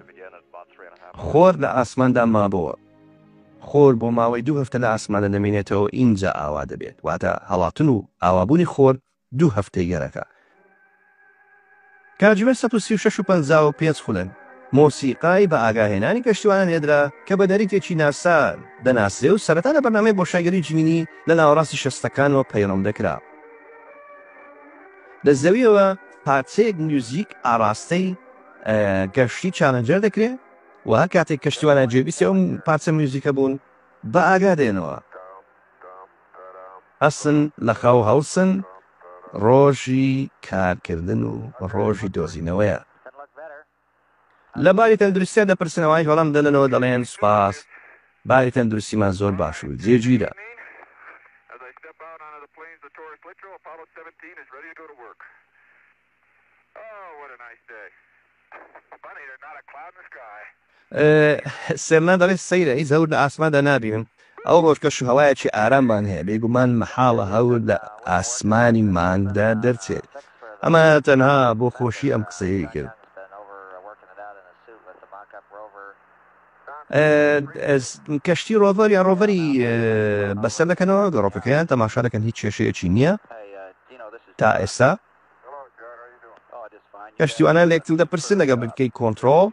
خۆر لە ئاسماندا مابۆوە. خۆر بۆ ماوەی دوو هەفتە لە ئاسماندا دەمێنێتەوە ئینجا ئاوا دەبێت، واتە هەڵاتن و ئاوابوونی خۆر دوو هەفتەی گەرەکە. کاتژمێر سەد و سی و شەش و پەنجا و پێنج خولەک مۆسیقای بە ئاگاهێنانی کەشتیوانان لێدرا کە بە نەریتێکی ناسا دەناسرێ و سەرەتا لە بەرنامەی بۆشایگەری جیمینی لە ناوەڕاستی شەستەکانەوە پەیڕەو دەکرا لە زەویەوە پارچەیەک میوزیک ئاڕاستەی گەشتی چالنجەر دەکرێ. و هەر کاتێک کەشتیوانان گوێبیستی ئەو پارچە میوزیکە بوون بە ئاگا دێنەوە هەستن لە خەو هەڵسن ڕۆژی کارکردن و ڕۆژی دۆزینەوەیە لە باری تەندروستیان دەپرسنەوەی هەڵم دەنەوە دەڵێن سوپاس باری تەندروستیمان زۆر باش و جێگیرە سرنا دەڵێت، سەیرە هیچ هەور لە ئاسماندا نابینم، ئەو ڕۆژ کەش و هەوایەکی ئاراممان هەیە، بێگومان مەحاڵە هەور لە ئاسمانی مانگدا دەرچێت. ئەمە تەنها بۆ خۆشی ئەم قسەیەی کرد. کەشتی ڕۆڤەر یان ڕۆڤەری بەسەر دەکەنەوە، گەڕۆکەکەیان تەماشا دەکەن، هیچ کێشەیەکی نییە تا ئێستا. پشتیوانان لە یەکتر دەپرسن ئەگەر بتکەی کۆنترۆڵ.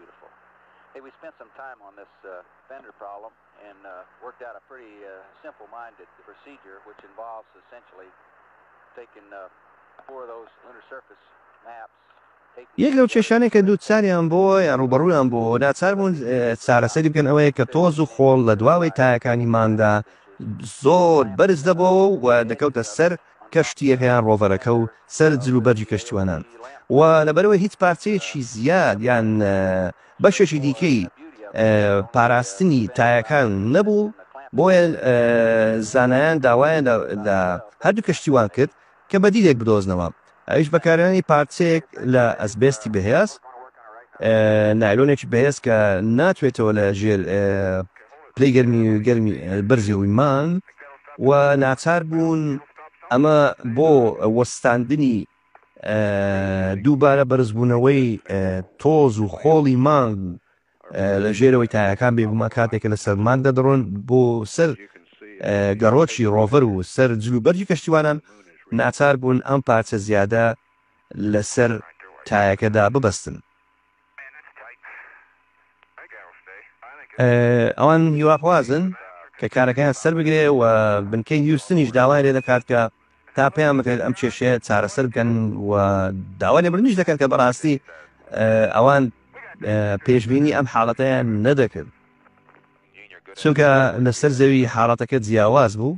یەک لەو کێشانەی کە دووچاریان بووە یان ڕووبەڕوویان بووە و ناچار بوون چارەسەری بکەن ئەوەیە کە تۆز و خۆڵ لە دواوەی تایەکانی مانگدا زۆر بەرز دەبووەوە و دەکەوتە سەر کەشتییەکە یان ڕۆڤەرەکە و سەر جل و بەرگی کەشتیوانان و لەبەرئەوەی هیچ پارچەیەکی زیاد یان بەشێکی دیکەی پاراستنی تایەکان نەبوو، بۆیە زانایان داوایان لە هەردوو کەشتیوان کرد کە بەدیلێک بدۆزنەوە، ئەویش بەکارهێنانی پارچەیەک لە ئەسبێستی بەهێز، نایلۆنێکی بەهێز کە ناتوێتەوە لە ژێر. پلەی گەرمی بەرزیەوەی مانگ و ناچار بوون ئەمە بۆ وەستاندنی دووبارە بەرزبوونەوەی تۆز و خۆڵی مانگ لە ژێرەوەی تایەکان بێگومان کاتێک کە لەسەر مانگ دەدڕۆن بۆ سەر گەڕۆکی ڕۆڤەر و سەر جلوبەرگی کەشتیوانان ناچار بوون ئەم پارچە زیادە لەسەر تایەکەدا ببەستن. ئەوان هیواخوازن کە کارەکەیان سەربگرێت و بنکەی هیوستنیش داوای لێ دەکات کە تا پێیان بکرێت ئەم کێشەیە چارەسەر بکەن و داوا لێبوردنیش دەکەن کە بەڕاستی ئەوان پێشببینی ئەم حاڵەتەیان نەدەکرد چونکە لەسەر زەوی حاڵەتەکە جیاواز بوو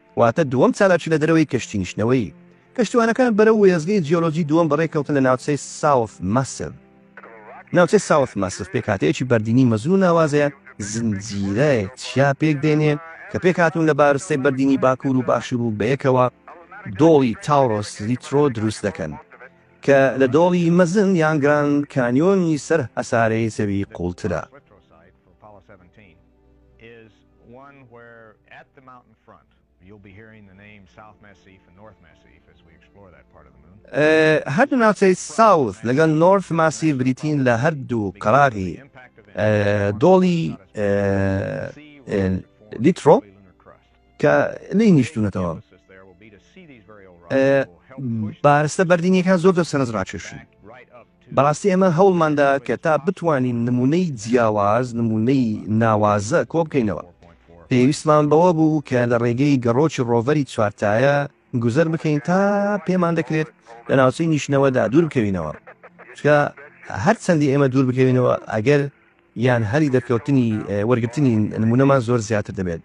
واتە دووەم چالاکی لە دەرەوەی کەشتی نیشتنەوەیی. کەشتیوانەکان بەرەو وێستگەی جیۆلۆجی دووەم بەڕێ کەوتن لە ناوچەی ساوث ماسڤ. ناوچەی ساوث ماسڤ پێکهاتەیەکی بەردینی مەزن و ناوازەیە، زنجیرەیەک چیا پێک دێنێ کە پێک هاتوون لە بارستەی بەردینی باکوور و باشوور و بەیەکەوە دۆڵی تاورۆس لیترۆ دروست دەکەن کە لە دۆڵی مەزن یان گراند کانیۆنی سەر هەسارەی زەوی قووڵترە. هەردوو ناوچەی ساوس لەگەڵ نۆرث ماسیڤ بریتین لە هەردوو قەراغی دۆڵی لیترۆ. کە نەینیشتونەتەوە بارستە بەردینیەکان زۆر زۆر سەرنج ڕاکێشن بەڕاستی ئێمە هەوڵماندا کە تا بتوانین نمونەی جیاواز نمونەی ناوازە کۆ بکەینەوە پێویستمان بەوە بوو کە لە ڕێگەی گەڕۆکی ڕۆڤەری چوارتایە گوزەر بکەین تا پێمان دەکرێت لە ناوچەی نیشتنەوەدا دوور بکەوینەوە چکە هەر چەندی ئێمە دوور بکەوینەوە ئەگەر یان هەلی دەرکەوتنی وەرگرتنی نموونەمان زۆر زیاتر دەبێت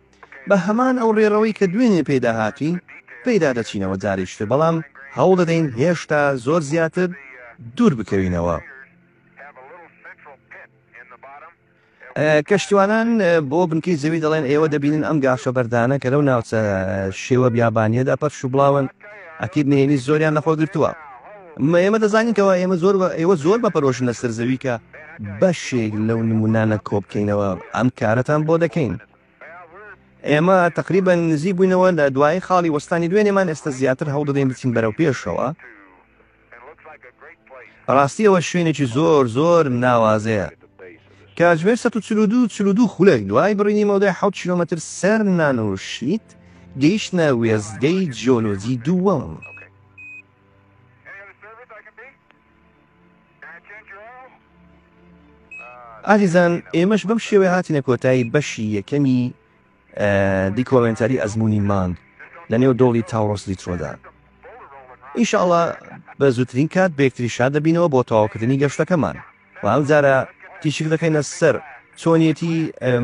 بە هەمان ئەو ڕێڕەوەی کە دوێنێ پێیدا هاتووین پێیدا دەچینەوە جارێکی تر بەڵام هەوڵ دەدەین هێشتا زۆر زیاتر دوور بکەوینەوە. کەشتیوانان بۆ بنکەی زەوی دەڵێن ئێوە دەبینن ئەم گاشە بەردانە کە لەو ناوچە شێوە بیابانیەدا پەرش و بڵاون ئەکید نهێنی زۆریان لەخۆ گرتووە. ئێمە دەزانین کەوا ئێمە زۆر ئێوە زۆر بە پەرۆشن لەسەر زەوی کە بەشێک لەو نمونانە کۆبکەینەوە ئەم کارەتان بۆ دەکەین. ئێمە تقریبا نزیک بووینەوە لە دوای خاڵی وەستانی دوێنێمان ئێستا زیاتر هەوڵدەدەین بچین بەرەو پێشەوە. بەڕاستی ئەوە شوێنێکی زۆر زۆر ناوازەیە کاتژمێر 1940 خولەک دوای بڕینی مەودای حوت کیلومتر سەر نانوشیت گەیشتە وێزگەی جیۆلۆجی دووەم. ئازیزان ئێمەش بەم شێوەیە هاتینە کۆتایی بەشی یەکەمی دیکۆمێنتاری ئەزمموی مانگ لە نێو دۆڵی تاوڕۆس لیترۆدا ئیشاڵە بە زووترین کات بێکتری شاد دەبینەوە بۆ تەواوکردنی گەشتەکەمان و ئەم جارە تیشک دەخەینە سەر چۆنیەتی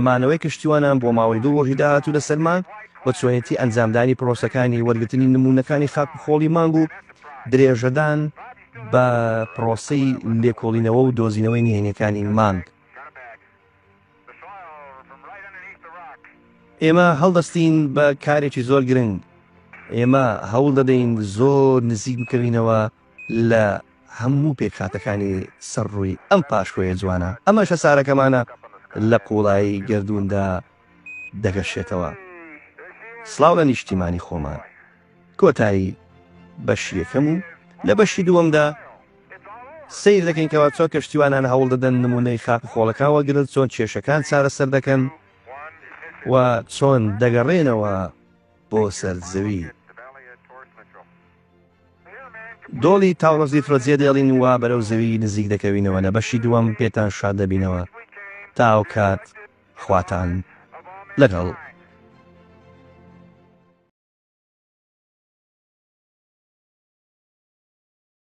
مانەوەی کەشتیوانان بۆ ماوەی دوو ڕۆژی داهاتوو لەسەر مانگ و چۆنیەتی ئەنجامدانی پرۆسەکانی وەرگرتنی نموونەکانی خاک و خۆڵی مانگ و درێژەدان بە پرۆسەی لێکۆڵینەوە و دۆزینەوەی نهێنیەکانی مانگ. ئێمە هەڵدەستین بە کارێکی زۆر گرنگ، ئێمە هەوڵ دەدەین زۆر نزیک بکەوینەوە لە. هەموو پێکهاتەکانی سەر ڕووی ئەم پاشکۆیە جوانە ئەمەش هەسارەکەمانە لە قوڵایی گەردووندا دەگەشێتەوە. سڵاو لە نیشتیمانی خۆمان. کۆتایی بەشی یەکەم و لە بەشی دووەمدا سەیر دەکەین کەوا چۆن کەشتیوانان هەوڵ دەدەن نموونەی خاک و خۆڵەکان وەگرن، چۆن کێشەکان چارەسەر دەکەن و چۆن دەگەڕێنەوە بۆ سەر زەوی. دۆڵی تاوڵزیفرۆ جێ دێڵین و بەرەو زەوی نزیک دەکەوینەوە لە بەشی دووەم پێتان شاد دەبینەوە تا ئەوکات خواتان لەگەڵ.